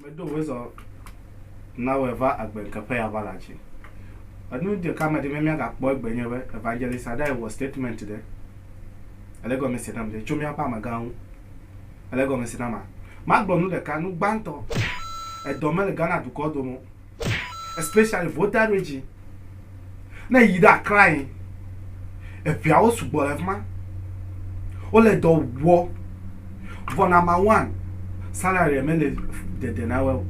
Meɖo wezɔ na wɔ va agbe ŋkeƒe ya va la dzi. Enu ɖeka me ɖi me mia ga kpɔ egbe nye be evangelist aɖe wɔ statement ɖe ele gɔme se nam ɖe tso mia ƒe amegã ŋu ele gɔme se nama ma gblɔ nu ɖeka nu gbãtɔ edɔ me le Ghana dukɔ dome o. especially Volta region. Ne èyi ɖe Accra yi, eŋeawo sugbɔ le fi ma. Wole dɔ wɔ. Vɔ nɔmba one, salary mele dede na woe o.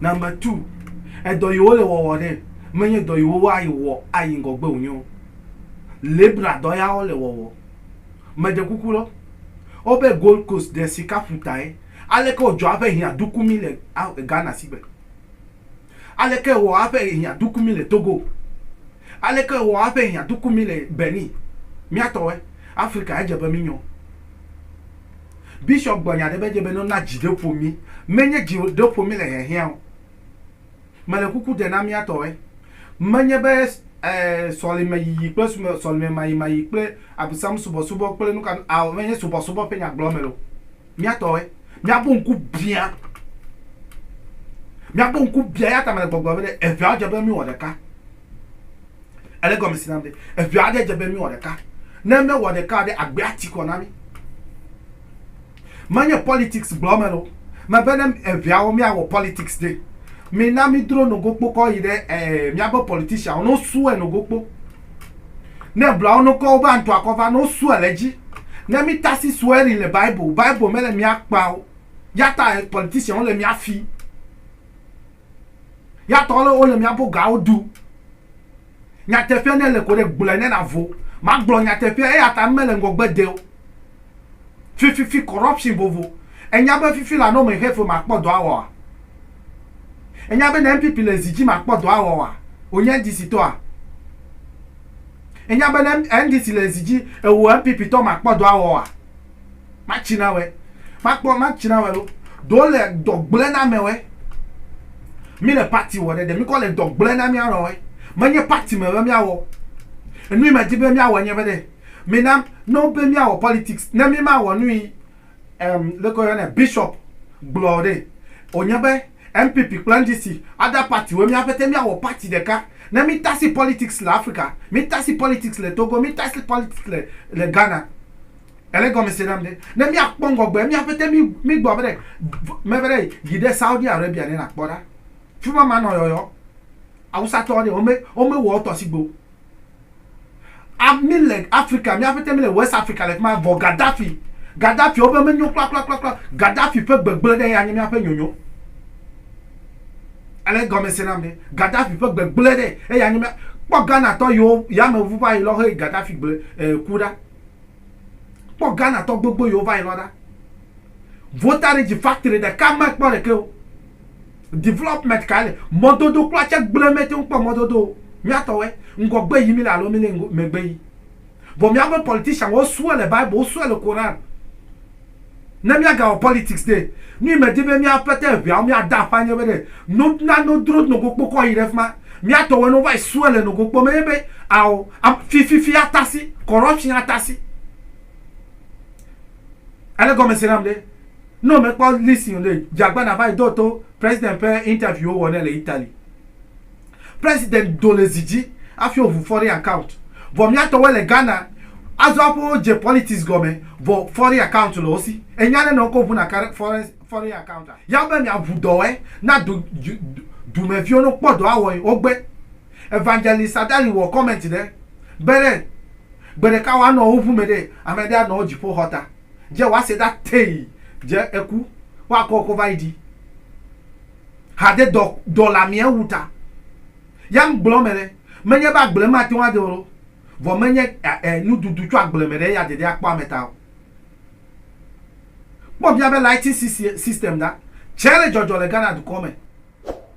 Nɔmba two, edɔ yi wole wɔwɔ ɖe, menye dɔ yi wowa ayi wɔ ayi ŋgɔgbe wonye o. Labourer dɔ ya wole wɔwɔ. Meɖe kuku ɖo, wobe Gold Coast ɖe sikaƒuta ye. Aleke wodzɔa eƒe hiã dukumi le Ghana sigbe? Aleke ewɔ haƒe hiã doku mí le Togo? Aleke ewɔ haƒe hiã doku mí le Benin? Mía tɔwɔe, Afrika, edze be mínyɔ. Bishop gblɔ nya aɖe be edze be ne wona dzi ɖe ƒo mí, menye dzi ɖe ƒo mí le hiahiã o. Mele kuku dem na mía tɔwɔe. Menye be sɔlemeyiyi kple sɔlememayimayi kple abusamusubɔsubɔ kple nuka nu ao, menye subɔsubɔ ƒe nya gblɔm mele o. mía tɔwoe. Míaƒe ŋku biã. Míaƒe ŋku biã ya ta mele gbɔgblɔ be ɖe eveawo dze be míwɔ ɖeka. Ele egɔme si nam ɖe. Evea aɖe dze be míwɔ ɖeka. Ne míewɔ ɖeka ɖe agbea ti kɔ na mí. Menye politics gblɔ mele o. Mebe ne eveawo míawɔ politics ɖe. Mina mídro nogokpo kɔ yi ɖe eh, míaƒe politicianwo ne wosue nogokpo. Ne ebla wo ne wokɔ wobe antɔa kɔ va ne wosua le edzi. Ne mítasi swearing le Bible, Bible mele mía kpa o. Yata politician wole mía fi. Yata wole wole mía bo gawo du. Nyateƒea ne le ko ɖe gblɔe ne navo. Magblɔ nyateƒea eyata mele ŋgɔgbe de o. Fififi corruption vovo. Enya be fifi la ne wome xe fe makpɔ dɔ awɔa? Ènya be ne NPP le zi dzi makpɔ dɔ awɔ oa, wònye NDC tɔa? Ènya be ne NDC le zi dzi ewò NPP tɔ makpɔ dɔ awɔ oa? Matsinawɛ. Makpɔ matsinawɛ lo. Ɖo le dɔ gblẽ na amɛwɛ. Mí le parti wɔ ɖe, ɖe míkɔ le dɔ gblẽ na mía nɔwɛ. Menye parti me be míawɔ o. Enu yi medi be míawɔe nye be ɖe, mina ne wobe míawɔ politics, ne mímawɔ nu yi, Em, leke woyɔ nɛ? Bishop gblɔ ɖe wonye be NPP kple NDC ada party woe mía ƒete míawɔ party ɖeka ne mí tasi politics le Africa, mí tasi politics le Togo, mí tasi politics le le Ghana. Ele gɔmese nam ɖe? Ne mía kpɔ ŋgɔgbe mía ƒete mí mí gbɔ be ɖe me be ɖe yi ɖe Saudi Arabia ne na kpɔ ɖa. Fima manɔ yɔyɔ. Awusatɔ ɖe wome wome wɔ wotɔ sigbe o. Ami le Afrika, mía ƒete mi le West Afrika le fima vɔ Gaddafi. Gaddafi wo be me nyo kpla kpla kpla kpla. Gaddafi ƒe gbegble ɖe ya nye mía ƒe nyonyo. Ale gɔme se nam ɖe. Gaddafi ƒe gbegble ɖe eya nye mía kpɔ Ghana tɔ yo ya me vu va yi lɔ he Gaddafi gble eh, ku ɖa. Kpɔ Ghana tɔ gbogbo yo va yi lɔ ɖa. Vota ɖe dzi factory ɖeka me kpɔ ɖeke o. Development kae le mɔdodo kpla tse gblẽ mete ŋu kpɔ mɔdodo o. Míatɔwɔe, ŋgɔgbe yi míle alo míle megbe yi. Vɔ míaƒe politician wo sue le Bible, wo sue le Koran. Ne míagawɔ politics ɖe, nu yi medi be mía pete eŋeawo míade afã nye be ɖe no na no dro nogo kpokɔ yi ɖe fi ma. Míatɔwɔe ne wova yi sue le nogo kpɔ me nye be ao fififi atasi, corruption atasi. Ele gɔmese nam ɖe? Ne wò mekpɔ listen o ɖe, dze agbana va yi do to president ƒe interview wo wɔ nɛ le Italy. President do le zi dzi afi wo ʋu foreign account. Vɔ mía tɔwoe le Ghana azɔ aƒe wo dze politics gɔme vɔ foreign account le wo si. Ènya ne nɔ wokɔ ʋu na kare foreign foreign account a? Ya be mia ʋu dɔwɔɛ na du du dumɛ viwo no kpɔ dɔ awɔe wo gbe. Evangelist Adali wɔ comment ɖe be ɖe gbeɖeka woa nɔ wo ʋu mɛ ɖe amɛɖe anɔ wo dziƒo xɔ ta. Dze wɔaseda tei dze eku wɔakɔ kɔ va yi ɖi hade dɔ dɔ la mia wu ta ya ŋ gblɔ me ɖe menye be agble ma te ŋu ade oro vɔ menye a e nu dudu tso agble me ɖe ya dede akpɔ ame ta o kpɔ mia be lighting system ɖa tsɛ le dzɔdzɔ le Ghana dukɔ me.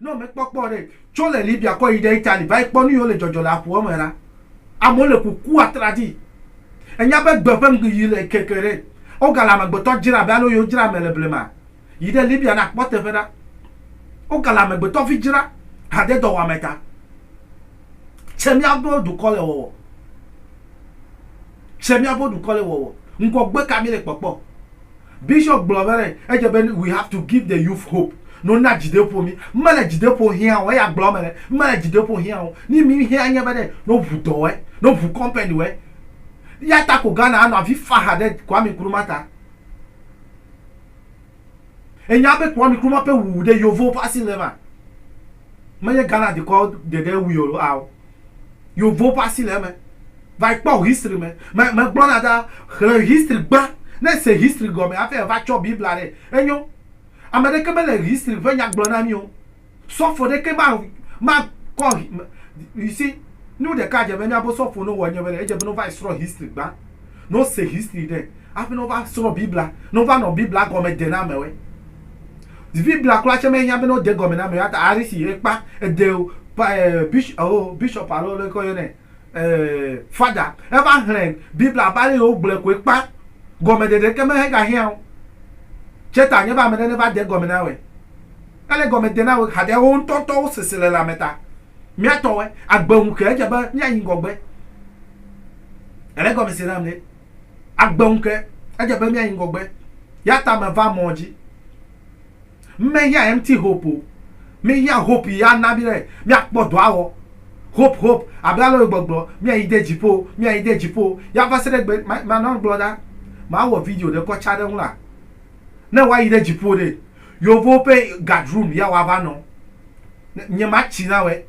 Ne womekpɔ kpɔ ɖe tso le Libya kɔ yi ɖe Italy va yi kpɔ nu yiwo le dzɔdzɔ le aƒua me ɖa. Amewo le kuku atraɖii. Ènya be gbe ƒe ŋgiyi le keke ɖe. Wogale amegbetɔ dzra abe ale yiwo dzra ame le blema. Yi ɖe Libya ne akpɔ teƒe ɖa. Wogale amegbetɔvi dzra hadedɔwɔame ta. Tse miaƒe dukɔ le wɔwɔ. Tse miaƒe dukɔ le wɔwɔ. Ŋgɔgbe ka mi le kpɔkpɔ? Bishop gblɔ be ɖe edze be we have to give the youth hope no na dzideƒo mi mele dzideƒo hiã o eya gblɔ me ɖe mele dzideƒo hiã o ni mi hiã nye be ɖe no ʋu dɔ wɛ no ʋu company wɛ ya ta ko Ghana anɔ avi faha ɖe Kwame Nkrumah ta enya be Kwame Nkrumah ƒe wuwu ɖe yovowo ƒe asi le ma menye Ghana dukɔ ɖeɖe wui o ao Yovo ƒe asi le eme. Va kpɔ history me. Me, megblɔna ɖa, xlẽ history gbã. Ne èse history gɔme hafi èva tsɔ Biblia ɖe, enyo. Ame ɖeke mele history ƒe nya gblɔ na mí o. Sɔfo ɖekee ma, makɔ, you see, nu ɖeka dze be mía bo sɔfo ne wowɔ nye be ɖe, edze be ne wova yi srɔ̃ history gbã. Ne wo se history ɖe afi ne wo va srɔ biblia ne wo va nɔ biblia gɔme de na ame woe. Biblia kura tse me hiã be ne wo de gɔme na ame woe ta ari si ekpa ede pa eh bishop alo bishop alo leke wo yɔnɛ eh father eva xlẽ biblia abe ale yi wo gblɔɛ koe kpa gɔme ɖeɖe ke me he ga hiã wo. Tse ta nye be ame ɖe ne va de gɔme na woe ele gɔme de na wo hade wo ŋtɔtɔ wo sese le lãme ta. Mía tɔwoe. Agbe ŋu ke edze be míayi ŋgɔgbe. Èle egɔme se nam ɖe? Agbe ŋu ke edze be míayi ŋgɔgbe. Eya ta meva mɔ dzi. Mehiã empty hope o. Míehiã hope yi ana mí be míakpɔ dɔ awɔ. Hope, hope, abe ale wòle gbɔgblɔ, míayi de dziƒo, míayi de dziƒo. Ya va se ɖe gbe, ma, manɔ agblɔ ɖa. Mawɔ video ɖe kɔ tsa ɖe eŋu la. Ne woayi ɖe dziƒo ɖe, Yeovo ƒe gadrum ya woava nɔ ne nye ma tsi na wɛ.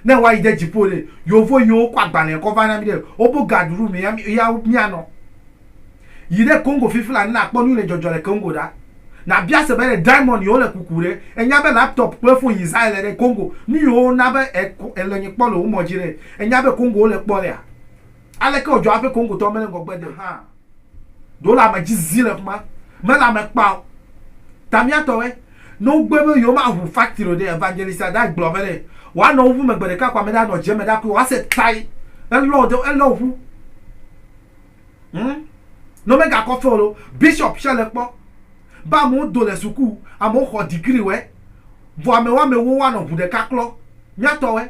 Ne woayi de dzipo ɖe, yeovo yiwo kɔ agbalẽ kɔ va na mi ɖe wobo gadrum ya ya mia nɔ. Yi ɖe Congo fifila ne nakpɔ nuyi le dzɔdzɔ le Congo ɖa. Na bia se be ɖe diamond yiwo le kuku ɖe, enya be laptop kple phone yi zã ele ɖe Congo. Nu yiwo na be e ko ele nye kpɔ le wo mɔ dzi ɖe, enya be Congo wo le kpɔ lea? Aleke ɔdzɔ aƒe Congo tɔ mele ŋgɔgbe de hã? Ɖola me dzi zi le ƒe ma me la me kpa o. Ta mía tɔ wɛ. Ne wo gbe be yewo ma ʋu factory o ɖe, evangelist a ɖa gblɔ be ɖe, woa nɔ wo ʋu me gbe ɖeka ko ame ɖe a nɔ dze me ɖa kui woa se tai. Elɔ ɖe, elɔ ʋu. Humm. Ne wo me ga kɔ fe o ɖe, bishop tsɛ le kpɔ. Be amewo do le suku, amewo xɔ degree wɛ. Vɔ amewɔ amewo woa nɔ ʋu ɖeka klɔ. Mía tɔ wɛ.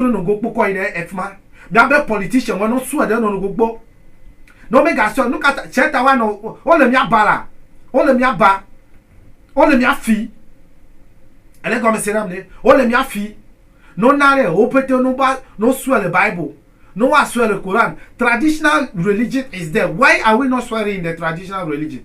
Nɔ nogo kpo kɔ yi ɖe efima. Bia be politician wɔ nɔ sue ɖe nɔ nogo kpo. Nɔ me ga sue nuka ta tsɛ ta wa nɔ wo le mia ba la wo le mia ba wo le mia fi. Ele gɔme se nam ne wo le mia fi. Nɔ na ɖe wo pɛtɛ nɔ ba nɔ sue le bible nɔ wa sue le Quran. Traditional religion is there why are we not swearing in the traditional religion.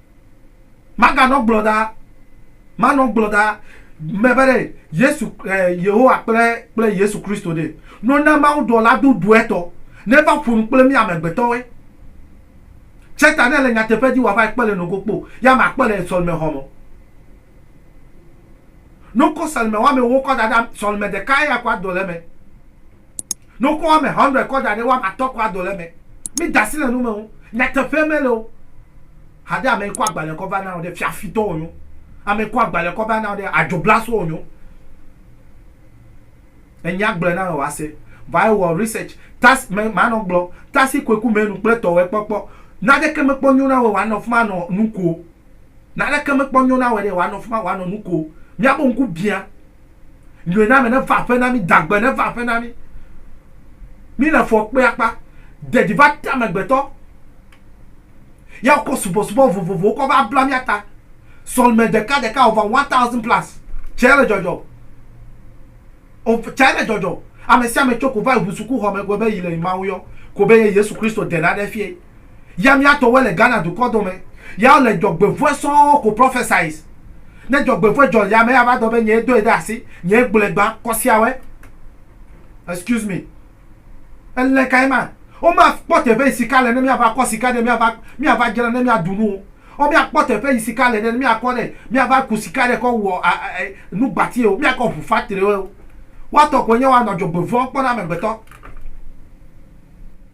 Maganɔ gblɔ ɖa, manɔ gblɔ ɖa me be ɖe Yesu, eh, Yehowa kple, kple Yesu Kristo ɖe. No na Mawu dɔla dodoetɔ neva ƒonu kple mí amegbetɔwoe. Tse ta ne le nyateƒe dzi wòava kpe le nogo kpo, ya makpe le sɔlimexɔ me. No kɔ sɔlimewɔame wokɔ da ɖe sɔlime ɖeka ya kɔ adɔ le eme. Ne wokɔ woame hundred kɔ da ɖe woame atɔ̃ kɔa dɔ le eme. Mi da asi le nu me ŋu. Nyateƒe mele o. Haɖe ame kɔ agbalẽ kɔ va na wò ɖe fiafitɔ wònyo. Ame kɔ agbalẽ kɔ va na wò ɖe adzoblaso wònyo. Enya gblɔ na wò ase. Va ewɔ research. Tas me manɔ gblɔ. Tasi koe ku menu kple tɔwɛ kpɔkpɔ. Naneke mekpɔ nyo na wò wòanɔ fima nɔ nu ko. Naneke mekpɔ nyo na wɔ ɖe wòanɔ fima wòanɔ nu ko. Míaƒe ŋku bia. Nyoename neva aƒe na mí, dagbe neva aƒe na mí. Míle fɔ kpe akpa. Dedi va te amegbetɔ. Ya wokɔ subɔsubɔ vovovowo kɔ va bla mía ta. Sɔlime ɖeka ɖeka over one thousand plus. Tsɛ le dzɔdzɔ. Tsɛ le dzɔdzɔ. Ame sia ame tso ko va yi ŋu sukuxɔ me ko be yi le yi Mawu yɔ ko be ye Yesu Kristo de naɖe fiae. ya mía tɔwoe le Ghana dukɔ dɔ me ya wo le dzɔgbe vɔe sɔɔ ko prophesies ne dzɔgbe vɔe dzɔ ya me ya va dɔ be nyɛ dɔe ɖe asi nyɛ gblɔe gba kɔsiawɔe excuse me elɛ kae ma wo ma kpɔ teƒe yi sika le ne mía va kɔ sika ɖe mía va mía va dzra ne mía dunu wo wo mía kpɔ teƒe yi sika le ɖe ne mía kɔ ɖe mía va ku sika ɖe kɔ wɔ a a nu gbati wo mía kɔ ʋu factory wo wa tɔ ko nye wa nɔ dzɔgbe vɔe kpɔ na amegbetɔ.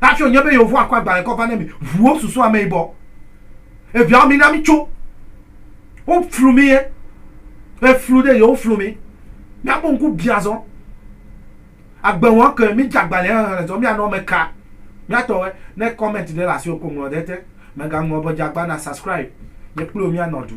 Hafi wònye be Yehowa kɔ agbalẽ kɔ va na mi, ʋuwo susu ameyibɔ. Eviawo, mina mitso. Woflu mi ye. Eflu ɖe ye, woflu mi. Míaƒe ŋku biã zɔ. Agbe wɔm ke mídze agbalẽ xexlẽ zɔ míanɔ eme ka. Mía tɔwoe. Ne comment ɖe le asiwò ko ŋlɔ ɖe ete. Mègaŋlɔ be dze agba na subscribe. Nye kpli wò míanɔ du.